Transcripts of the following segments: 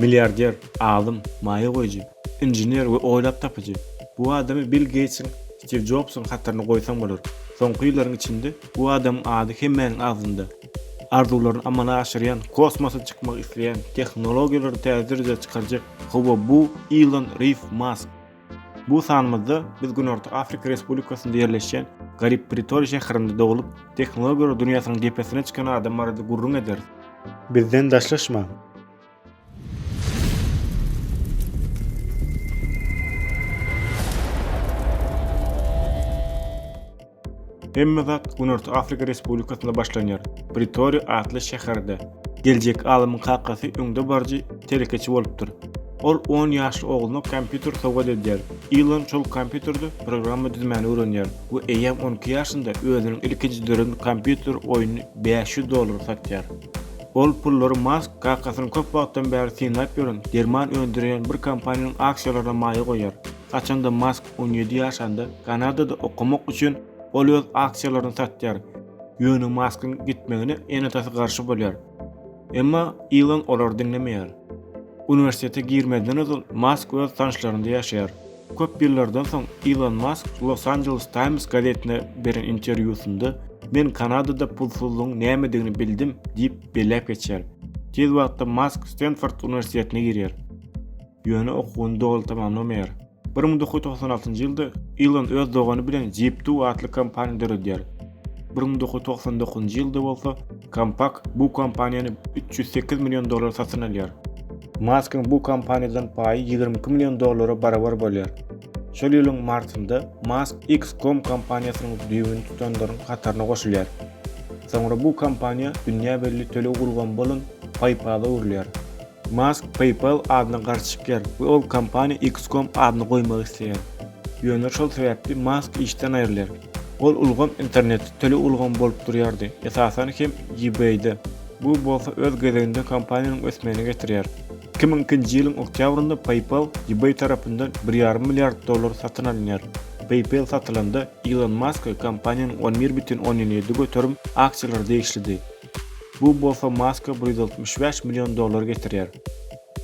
Milliarder, alym, maýa goýujy, inžener we oýlap tapyjy. Bu adamy Bill Geýtsiň, Stiw Jobsuň hataryna goýsaň bolar. Soňky ýyllaryň içinde bu adamyň ady hemmäniň agzynda. Arzuwlaryny amala aşyrýan, kosmosa çykmak isleýän, tehnologiýalary täze derejä çykarjak, hawa bu Ilon Riw Mask. Bu sanymyzda biz Günorta Afrika Respublikasynda ýerleşýän Garip Pritor şäherinde doglup, tehnologiýalar dünýäsiniň depesine çykan adam barada gürrüň ederis. Bizden daşlaşmaň! Hemme zat Günorta Afrika Respublikasynda başlanýar. Pritori atly şäherde. Geljek alymyň kakasy öňde baryjy telekeçi bolupdyr. Ol on ýaşly ogluna kompýuter sowgat edýär. Ilon şol kompýuterde programma düzmäni öwrenýär we eýýäm on iki ýaşynda özüniň ilkinji döreden kompýuter oýnuny bäş ýüz dollara satýar. Ol pullary Mask kakasynyň köp wagtdan bäri synlap ýören derman öndürýän bir kompaniýanyň aksiýalaryna maýa goýýar. Haçanda Mask on ýedi ýaşanda Kanadada okamak üçin ol öz aksiýalaryny satýar. Ýöne Maskyň gitmegine ene-atasy garşy bolýar. Emma Ilon olary diňlemeýär. Uniwersitete girmezden ozal Mask öz tanyşlarynda ýaşaýar. Köp ýyllardan soň Ilon Mask Los Angeles Times gazetine beren interwýusynda Men Kanadada pulsuzlygyň nämedigini bildim diýip belläp geçýär. Tiz wagtda Mask Stenford uniwersitetine girýär. ýöne okuwyny doly tamamlamaýar. Bir müň dokuz ýüz togsan altynjy ýylda Ilon öz dogany bilen Jeep-Two atly kompaniýa döredýär. Bir müň dokuz ýüz togsan dokuzynjy ýylda bolsa Compaq bu kompaniýany üç ýüz sekiz million dollara satyn alýar. Maskyň bu kompaniýadan paýy ýigrimi iki million dollara barabar bolýar. Şol ýylyň martynda Mask X-Com kompaniýasynyň düýbüni tutanlaryň hataryna goşulýar. Soňra bu kompaniýa dünýä belli töleg ulgamy bolan PayPal-a öwrülýär. Mask PayPal adyna garşy çykýar we ol kompaniýa X-com adyny goýmak isleýär. Ýöne şol sebäpli Mask işden aýrylýar. Ol ulgam internetde töleg ulgamy bolup durýardy, esasan hem eBay-de. Bu bolsa öz gezeginde kompaniýanyň ösmegine getirýär. Iki müň ikinji ýylyň oktýabrynda PayPal eBay tarapyndan bir ýarym milliard dollara satyn alynýar. PayPal satylanda Ilon Maska kompaniýanyň on bir bütin onýan ýedi göterim aksiýalary degişlidi. Bu bolsa Maska bir ýüz altmyş bäş million dollar getirýär.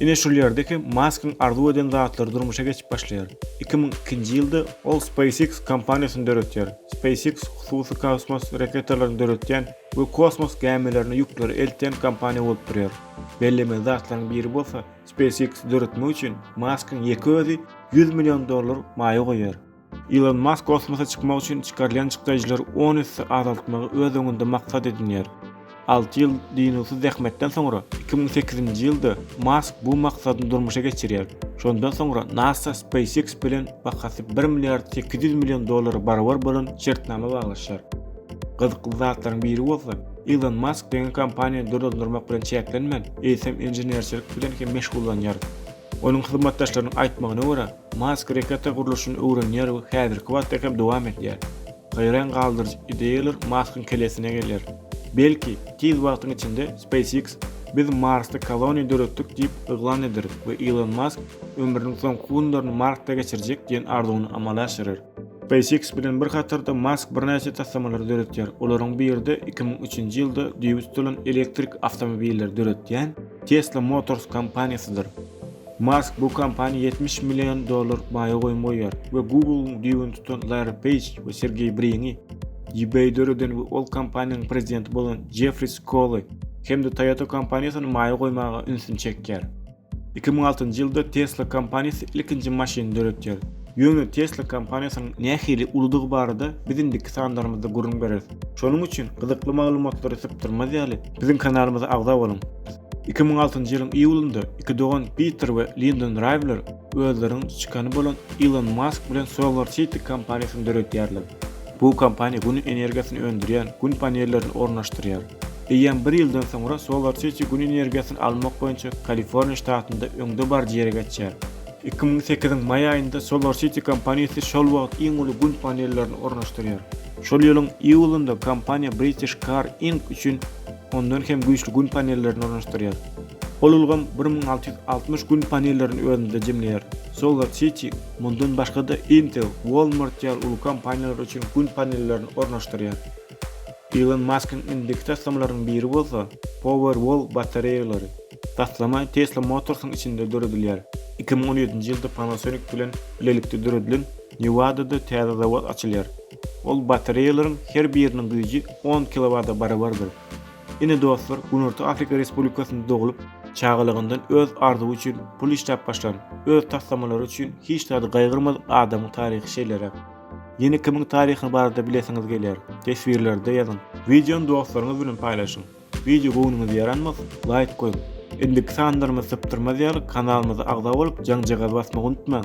Ine şol ýerde hem Maskyň arzuw eden zatlary durmuşa geçip başlaýar. Iki müň ikinji ýylda ol SpaceX kompaniýasyny döretýär. SpaceX hususy kosmos raketalaryny döretýän we kosmos gämilerine ýükleri eltýän kompaniýa bolup durýar. Bellemeli zatlaryň biri bolsa, SpaceX-i döretmek üçin Maskyň ýeke özi ýüz million dollar maýa goýýar. Ilon Mask kosmosa çykmak üçin çykarylýan çykdajylary on esse azaltmagy öz öňünde maksat edinýär. Alty ýyl dynuwsyz zähmetden soňra, iki müň sekizinji ýylda Mask bu maksadyny durmuşa geçirýär. Şondan soňra NASA SpaceX bilen bahasy bir milliard sekiz ýüz million dollara barabar bolan şertnama baglaşýar. Gyzykly zatlaryň biri bolsa, Ilon Mask diňe kompaniýany dolandyrmak bilen çäklenmän, eýsem inženerçilik bilen hem meşgullanýar. Onuň hyzmatdaşlarynyň aýtmagyna görä, Mask reketa gurluşyny öwrenýär we häzirki wagtda hem dowam edýär. Haýran galdyryjy ideýalar Maskyň kellesine gelýär. Belki, tiz wagtyň içinde SpaceX Biz Marsda koloniýa döretdik diýip yglan ederis we Ilon Mask ömrüniň soňky günlerini Marsda geçirjek diýen arzuwyny amala aşyrar. SpaceX bilen bir hatarda Mask birnäçe taslamalary döretýär. Olaryň biri-de iki müň üçünji ýylda düýbi tutulan elektrik awtomobilleri döretýän Tesla Motors kompaniýasydyr. Mask bu kompaniýa ýetmiş million dollar baýa goýum goýýar we Google-yň düýbüni tutan Larry Peýj we Sergeý Briňi, eBay-i döreden we ol kompaniýanyň prezidenti bolan Jeffri Skoly hem-de Toyota kompaniýasyny maýa goýmaga ünsüni çekýär. Iki müň altynjy ýylda Tesla kompaniýasy ilkinji maşyny döretýär. Ýöne Tesla kompaniýasynyň nähili uludygy barada biz indiki sanlarymyzda gürrüň bereris. Şonuň üçin gyzykly maglumatlary sypdyrmaz ýaly, biziň kanalymyza agza boluň! Iki müň altynjy ýylyň iýulynda iki dogan Piter we Lindon Raýwler özleriniň çykany bolan Ilon Mask bilen Solar City kompaniýasyny döredýärler. Bu kompaniýa gün energiýasyny öndürýän gün panellerini ornaşdyrýar. Eýýäm bir ýyldan soňra Solar City gün energiýasyny almak boýunça Kaliforniýa ştatynda öňde baryjy ýere geçer. Iki müň sekiziň maý aýynda Solar City kompaniýasy şol wagt iň uly gün panellerini ornaşdyrýar. Şol ýylyň iýulynda kompaniýa British Car Inc. üçin Ondan hem güýçli Gün panellerini ornaşdyrýar. Ol ulgam bir müň alty ýüz altmyş Gün panellerini özünde jemleýär. Solar City mundan başga-da Intel, Walmart ýaly uly kompaniýalar üçin Gün panellerini ornaşdyrýar. Ilon Maskyň indiki taslamalarynyň biri bolsa Powerwall batareýalary. Taslama Tesla Motors-yň içinde döredilýär. Iki müň on ýedinji ýylda Panasonic bilen bilelikde döredilen Newada-da täze zawod açylýar. Ol batareýalaryň her biriniň güýji on kilowada barabardyr. Ine dostlar, Günorta Afrika Respublikasynda doglup, çagalygyndan öz arzuwy üçin pul işläp başlan, öz taslamalary üçin hiç zady gaýgyrmadyk adamyň taryhy şeýleräk. Ýene kimiň taryhy barada bilesiňiz gelýär? Teswirlerde ýazyň. Wideony dostlaryňyz bilen paýlaşyň. Wideo göwnüňize ýaranmasa, laýk goýuň. Indiki sanlarymyzy sypdyrmaz ýaly kanalymyza agza bolup jaňjagaz basmagy unutmaň.